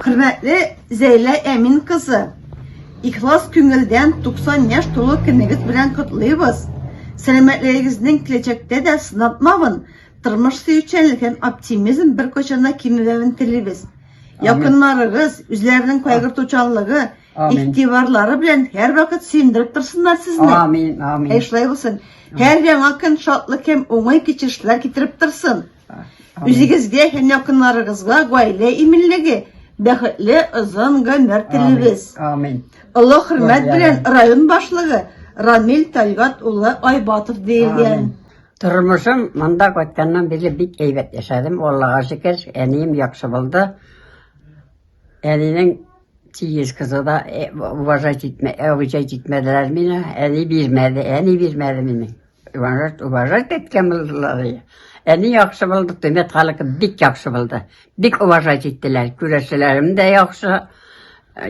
Хөрмәтле Зәйлә Әмин кызы, ихлас күңелдән 90 яшь тулу көнегез белән котлыйбыз. Сәламәтлегегезнең киләчәктә дә сынатмавын, тормыш сөючәнлек һәм оптимизм беркайчан да кимемәвен телибез. Якыннарыгыз, үзләренең кайгыртучанлыгы, игътибарлары белән һәрвакыт сөендереп торсыннар сезне. Амин, амин. Әй шулай булсын. Һәр яңа көн шатлык һәм уңай кичерешләр китереп торсын. Үзегезгә һәм якыннарыгызга гаилә иминлеге, бәхетле озын гомер телибез. Амин. Олы хөрмәт белән район башлыгы Рамил Тальгат улы Айбатов диелгән. Тормышым монда кайтканнан бирле бик әйбәт яшәдем. Аллага шөкер, әнием яхшы булды. Әнинең тигез кызы да э, уважать итмәделәр мине, әни бирмәде, әни бирмәде мине. Уважать, уважать әйткән булдылар. Әни яхшы булды, төмәт халыкы бик яхшы булды. Бик уважать иттеләр. Күрәшчеләрем дә яхшы,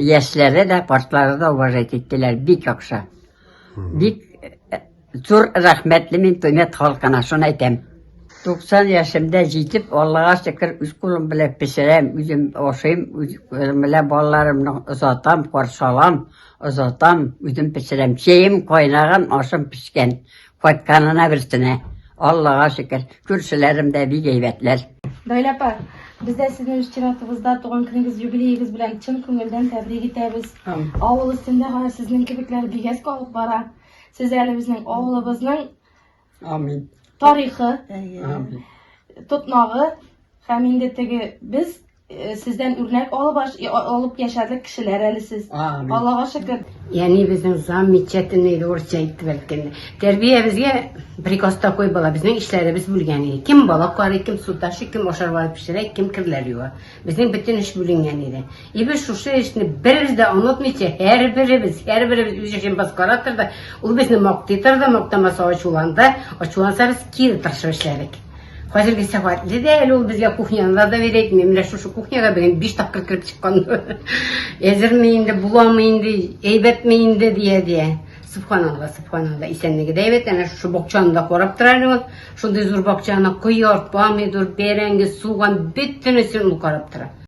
яшьләре дә, картлары да уважать иттеләр. Бик яхшы. Бик э, зур рәхмәтле мин төмәт халкына, шуны әйтәм. 90 яшемдә җитеп, Аллага шөкер, үз кулым белән пешерәм, үзем ашыйм, үз кулым белән балаларымны озатам, каршы алам. Озатам, үзем пешерәм. Чәем кайнаган, ашым пешкән. Кайтканына берсенә. Аллага шөкер, күршеләрем дә бик әйбәтләр. Наилә апа, без дә сезне үз чиратыбызда туган көнегез, юбилеегыз белән чын күңелдән тәбрик итәбез. Авыл өстендә гына сезнең кебекләр бигәс калып бара. Сез әле безнең авылыбызның Амин. Тарихы, Амин. тотмагы һәм инде теге без э, сездән үрнәк алып аш- э, алып яшәдек кешеләр әле сез. Амин. Аллага шөкер. Яни безнең замечательный иде урысча әйтеп әйткәндә. Тәрбиябезгә приказ такой була, безнең эшләребез бүлгән иде. Кем балык карый, кем су ташый, кем ашарга пешерә, кем керләр юа. Безнең бөтен эш бүленгән иде. И без шушы эшне беребез дә онытмыйча, һәрберебез, һәрберебез үз эшен башкара торды. Ул безне мактый торды, мактамаса ачуланды. Ачуланса без кире тырышып эшләдек. Хәзерге сәгатьле дә әле ул безгә кухняны да доверя итми. Менә шушы кухняга бүген биш тапкыр кереп чыккан. Әзерме инде, буламы инде, әйбәтме инде дия дия. Субханалла, субханалла. Исәнлеге дә әйбәт, әнә шушы бокчаны да карап тора әле ул. Шундый зур бакчаны, кыяр, помидор, бәрәңге, суган, бөтенесен ул карап тора.